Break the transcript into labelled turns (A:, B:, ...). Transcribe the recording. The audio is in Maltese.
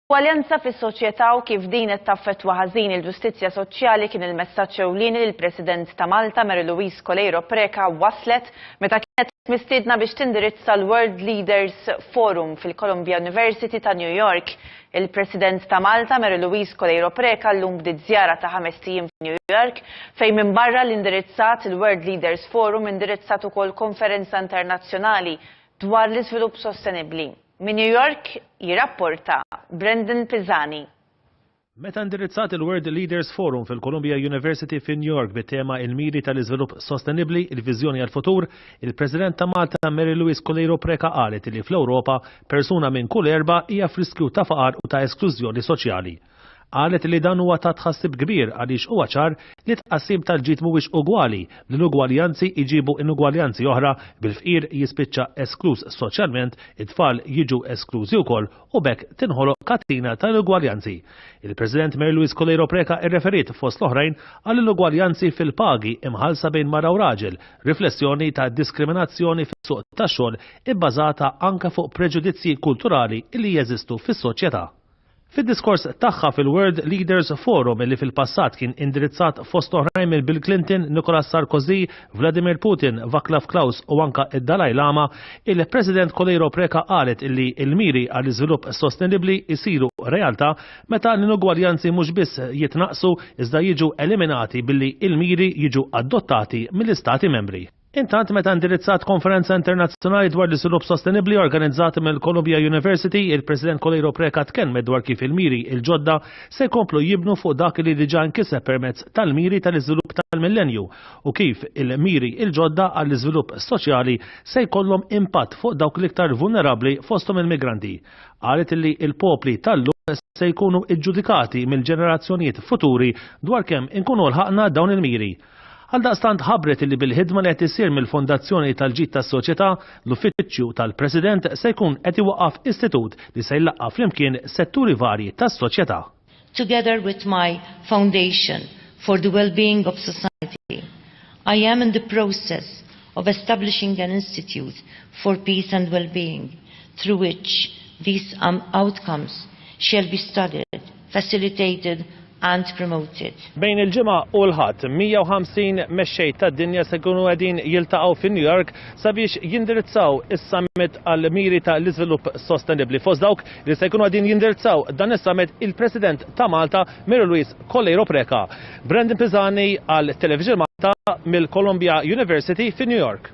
A: Ugwaljanza fis-soċjetà u kif din qed taffettwa ħażin il-ġustizzja soċjali kien il-messaġġ ewlieni li l-President ta' Malta, Mary Louise Coleiro Preca, wasslet meta kienet mistiedna biex tindirizza l-World Leaders Forum fil-Columbia University ta' New York. Il-President ta' Malta, Mary Louise Coleiro Preca, llum bdiet żjara ta' ħamest ijiem f'New York, fejn minbarra li indirizzat il-World Leaders Forum indirizzat ukoll konferenza internazzjonali dwar l-iżvilupp sostenibbli. Minn New York jirrapporta Brendan Pisani. Meta
B: indirizzat il-World Leaders Forum fil-Columbia University fi New York bit-tema Il-Miri tal-Iżvilupp Sostenibbli, il-Viżjoni għall-Futur, il-President ta' Malta Mary Louise Coleiro Preca qalet li fl-Ewropa persuna minn kull erbgħa hija f'riskju ta' faqar u ta' esklużjoni soċjali. Qalet li dan huwa ta' tħassib kbir għaliex huwa ċar li t-tqassim tal-ġid mhuwiex ugwali, l-inugwaljanzi jġibu inugwaljanzi oħra bil-fqir jispiċċa eskluż soċjalment, it-tfal jiġu esklużi wkoll u b'hekk tinħoloq katina ta' inugwaljanzi. Il-President Mary Louise Coleiro Preca irreferiet, fost l-oħrajn, għal inugwaljanzi fil-pagi imħallsa bejn mara u raġel, riflessjoni ta' diskriminazzjoni fis-suq tax-xogħol ibbażata anke fuq preġudizzji kulturali li jeżistu fis-soċjetà. Fid-diskors tagħha fil-World Leaders Forum li fil-passat kien indirizzat fost oħrajn minn Bill Clinton, Nicolas Sarkozy, Vladimir Putin, Vaclav Klaus u anke d-Dalai Lama, il-President Coleiro Preca qalet illi l-miri għall-iżvilupp sostenibbli jsiru realtà meta l-inugwaljanzi mhux biss jitnaqqsu iżda jiġu eliminati billi l-miri jiġu adottati mill-Istati Membri. Intant, meta indirizzat konferenza internazzjonali dwar l-iżvilupp sostenibbli organizzata mill-Columbia University, il-President Coleiro Preca tkellmet dwar kif il-miri l-ġodda se jkomplu jibnu fuq dak li diġà nkiseb permezz tal-miri tal-iżvilupp tal-millennju u kif il-miri l-ġodda għall-iżvilupp soċjali se jkollhom impatt fuq dawk l-iktar vulnerabbli fosthom il-migranti. Qalet li l-popli tal-lum se jkunu ġġudikati mill-ġenerazzjonijiet futuri dwar kemm inkunu lħaqna dawn il-miri. Għaldaqstant ħabbret illi bil-ħidma li qed issir mill-Fondazzjoni tal-Ġid tas-Soċjetà, l-Uffiċċju tal-President se jkun qed iwaqqaf istitut li se jlaqqa' flimkien setturi varji tas-soċjetà. Together
C: with my Foundation for the Wellbeing of Society, I am in the process of establishing an Institute for Peace and Wellbeing through which these outcomes shall be studied, facilitated and promoted. Bejn il-Ġimgħa
B: u l-Ħadd, 150 mexxej tad-dinja se jkunu qegħdin jiltaqgħu fi New York sabiex jindirizzaw is-Summit għall-Miri ta' l-Iżvilupp Sostenibbli. Fost dawk li se jkunu qegħdin jindirizzaw dan is-Summit il-President ta' Malta, Mary Louise Coleiro Preca. Brandon Pisani għal Television Malta mill-Columbia University fi New York.